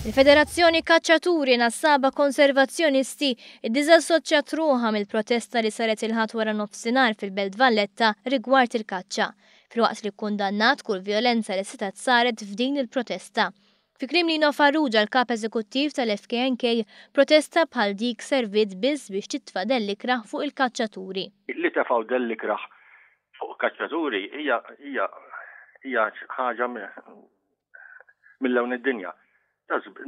Il-Federazzjoni Kaċċaturi Nassaba Konservazzjonisti iddiżassoċjat ruħha mill-protesta li saret il-Ħadd waranofsinhar fil-Belt Valletta rigward il-kaċċa, filwaqt li kkundannat kull vjolenza li setgħet saret f'din il-protesta. Fi kliem Lino Farrugia l-Kap Eżekuttiv tal-FKNK, protesta bħal dik serviet biss biex titfa' dell-ikrah fuq il-kaċċaturi. Li tefgħu dell-ikrah fuq kaċċaturi hija hija hija ħaġa mill-lewn id-dinja.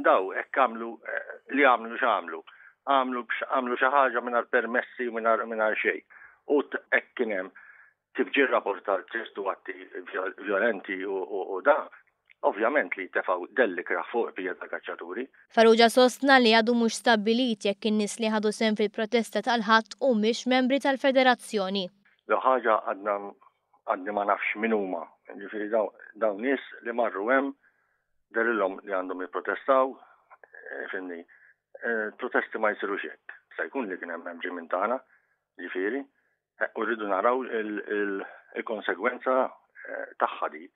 Daw hekk għamlu eh, li għamlu x'għamlu. Għamlu għamlu xi ħaġa mingħajr permessi mingħajr xejn. U hekk kien hemm kif ġie rapportar ċertu atti violenti u da, ovvjament li tefaw delli kraħ fuq bija ta' kaċċaturi. Faruġa sostna li għadu mhux stabbilit jekk in-nies li ħadu sem fil-protesta tal-ħadd u mhix membri tal-federazzjoni. L-ħaġa għadna għadni ma nafx min huma, ġifiri dawn nies li marru hemm derilhom li għandhom jipprotestaw, eh, fimni, eh, protesti ma jisiru xek, sa jkun li kien hemm hemm ġimin tagħna, ġifiri, eh, u rridu naraw il-konsegwenza tagħha di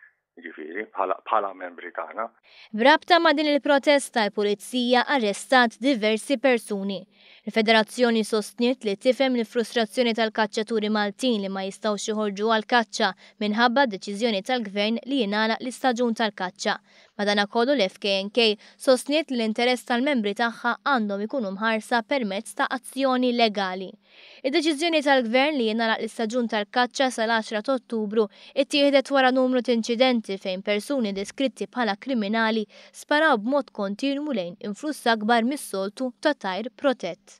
ġifiri, bħala membri tagħna. B'rabta ma' din il-protesta l-Pulizija arrestat diversi persuni. Il-Federazzjoni sostniet li tifhem l-frustrazzjoni tal-kaċċaturi Maltin li ma jistgħux joħorġu għall-kaċċa minħabba d-deċiżjoni tal-Gvern li jingħalaq l-istaġun tal-kaċċa. Madanakollu l-FKNK sostniet li l-interess tal-membri tagħha għandhom ikunu mħarsa permezz ta' azzjoni legali. Id-deċiżjoni tal-Gvern li jingħalaq l-istaġun tal-kaċċa sal-għaxra ta' Ottubru ttieħdet wara numru t'inċidenti fejn persuni deskritti bħala kriminali sparaw b'mod kontinwu lejn influss akbar mis-soltu ta' tajr protett.